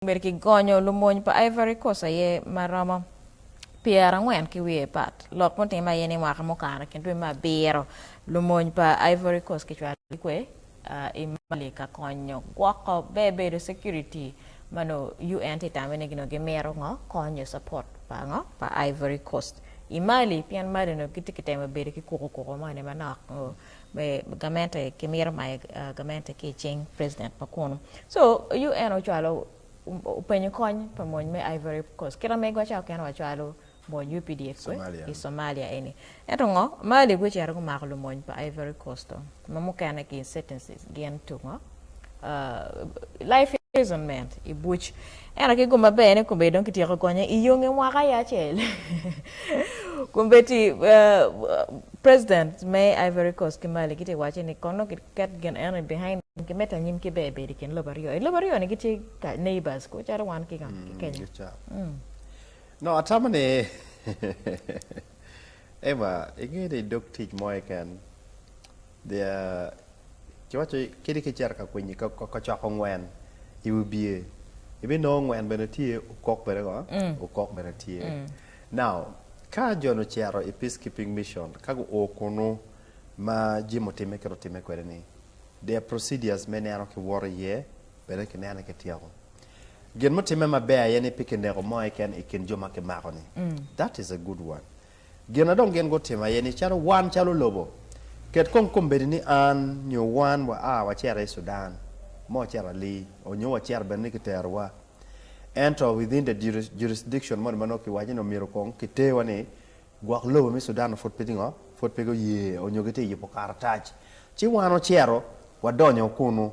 Obedo ki gonyo lumony pa Ivory Coast aye ma romo pyerangwen ki wiye pat. Lok mutime aye ni mwaka mukato i kin dwe me abiro, lumony pa Ivory Coast kicwalo ki kwe i Mali ka konyo gwoko ber bedo security ma nongo UN tye tame ni nongo gimito ngo kony nyo support pa ngo pa Ivory Coast i Mali pien Mali nongo gitye kitemo bedo ki kuku kuku moni manok. me gamente ki mito mayo gamente ki icing president pa kunu so UN ocwalo openyo kony pa mony me Ivory coast kit ma megwa ca okene wacwalo mony updf we i Somalia eni ento ngo Mali gucito gumako lumony pa Ivory coast ma mukene ki insurgencies gin to ngo life imprisonment i buc ento ki gum maber ni kome dong kityeko konye i yonge mwaka aye acel kombeddi president me Ivory Coast ki Mali gitye waco ni kono kiket gin eno i behind ki medo anyim ki ber bedo i kin lobo aryo i lobo aryo ni gitye neighbors ko calo wan ki Kenya. No atamo ni Eva, ingeyo ni idog tic mo keken, kiwaco kadi ka icito ka kwinyi ka coko ngwen i wi bye, ibinongo ngwen bene tye, okok bene ngo, okok bene tye. Now, ka jo-ni ocito i Peacekeeping Mission, ka guo kunu ma Jim otimme kit otimme kwede-ni, there are procedures me neno kiwoto iye bene kinene kityeko. Gin mutimme maber aye ni pe kineko mo keken i kin jo ma kimako ni. That is a good one. Gin a dong gin gutimo aye ni calo wan calo lobo, ket kong kombeddi ni an nyo wan wa a wacito i Sudan, ma wacito Ali, or nyo wacito bene ni kitero wa, ento within the jurisdiction moni ma nongo kiwaco ni omyero kong kiter wa ni, gwok lobo me Sudan pud pe gingo, pud pe guye or nyo gitye yubo karatac, ci wan wacito wadonyo kunu.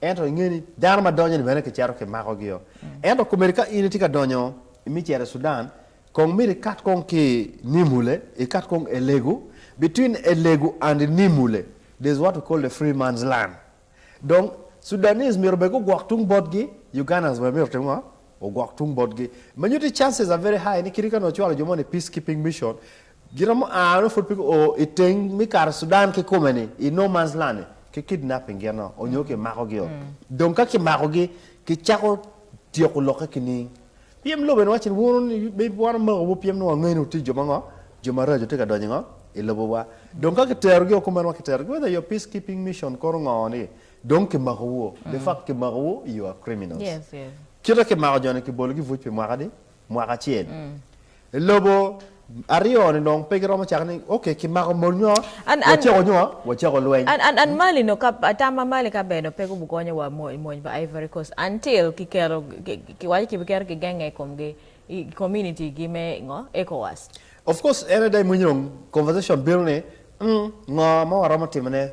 Ento inge ni dano ma donyo-ni bene kicito kimakogi-o. Ento komedi ka in itye ka donyo imi cito i Sudan, kong myero ikat kong ki i Nimule, ikat kong Elegu, between Elegu and Nimule there is what we call the free man's land. Dong Sudanese myero bene gugwok tung botgi, Ugandans bene myero otim ngo? Ogwok tung botgi. Ma nyutti chances are very high ni kit kaka nongo ocwalo jo moni i Peacekeeping Mission, Giromo a nongo pud pe guo i teng me kato Sudan kikume ni i no man's land ni ki kidnapping gino onyo ki mako gi o dong ka ki mako gi ki cako tyeko loke ki niing piem lobo en wacci ni wunu ni be wan omako wu piem ni wa ngeni wuti jo mango jo maraco tye ka donyo ngo i lobo wa dong ka ki tero gi o kume en wa ki tero gi whether your peace keeping mission kono ngo ni dong ki mako wu o the fact ki mako wu you are criminals kite ki mako jo ni ki bolo gi buc pi mwaka adi mwaka acel I lobo aryo ni dong pe giromo cako ni ok ki mako mol nyo waceko nyo waceko lweny. An an mali no ka atama mali ka bene pe gubu gonyo wa mo I mony pa ivory coast until ki keto ki waco ki bi keto ki genge I kom gi I community gi me ngo ecowas. Of course en ada imwinyo conversation bino ni ngo mo waromo timone.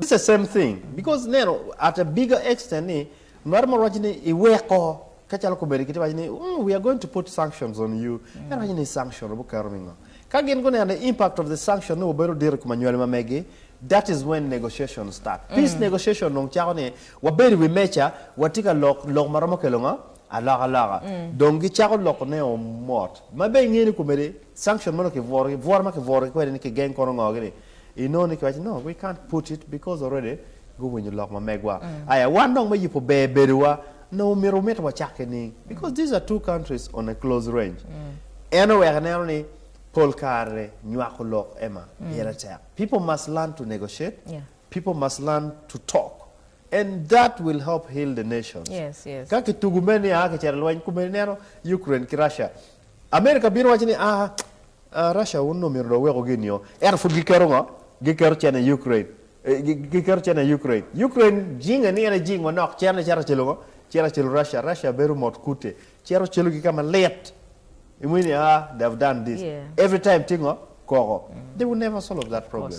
It's the same thing because neno at a bigger extent ni mar ma waco ni iweko ka calo komedi kiti waco ni mm, we are going to put sanctions on you en waco ni sanction obu kero mingo ka gin guneno the impact of the sanction ni wabedo diro i kom anywali ma megi that is when negotiation start peace negotiation dong cako ni wabedo i wi meja watye ka lok lok ma romo kelo ngo alokaloka dong gicako loko ne o mot ma be ingeyo ni komedi sanction ma dong kibworo kibworo ma kibworogi kwede ni kigeng kono ngo gini Inongo ni kiwaco no we can't put it because already guwinyo lok ma megwa. Aya wan dong me yubo ber bedowa onongo omyero wumit wacak ki niing because these are two countries on a close range. En oweko ineno ni pol kare nywako lok Emma pire tek. People must learn to negotiate, people must learn to talk and that will help heal the nations. Ka kitugo mere ni aa kicito i lweny, komedi ineno Ukraine ki Russia, America bino waco ni aa A Russia un omito dong weko gin nio ento pud giketo ngo? Giketo cene i Ukraine giketo cene i Ukraine Ukraine jinge ni en aye jing manok cere ne cito celo ngo? Cito celo Russia Russia bedo mot kute cito celo ki kama lit imwini aa they have done this every time tye ngo? Koko they will never solve that problem.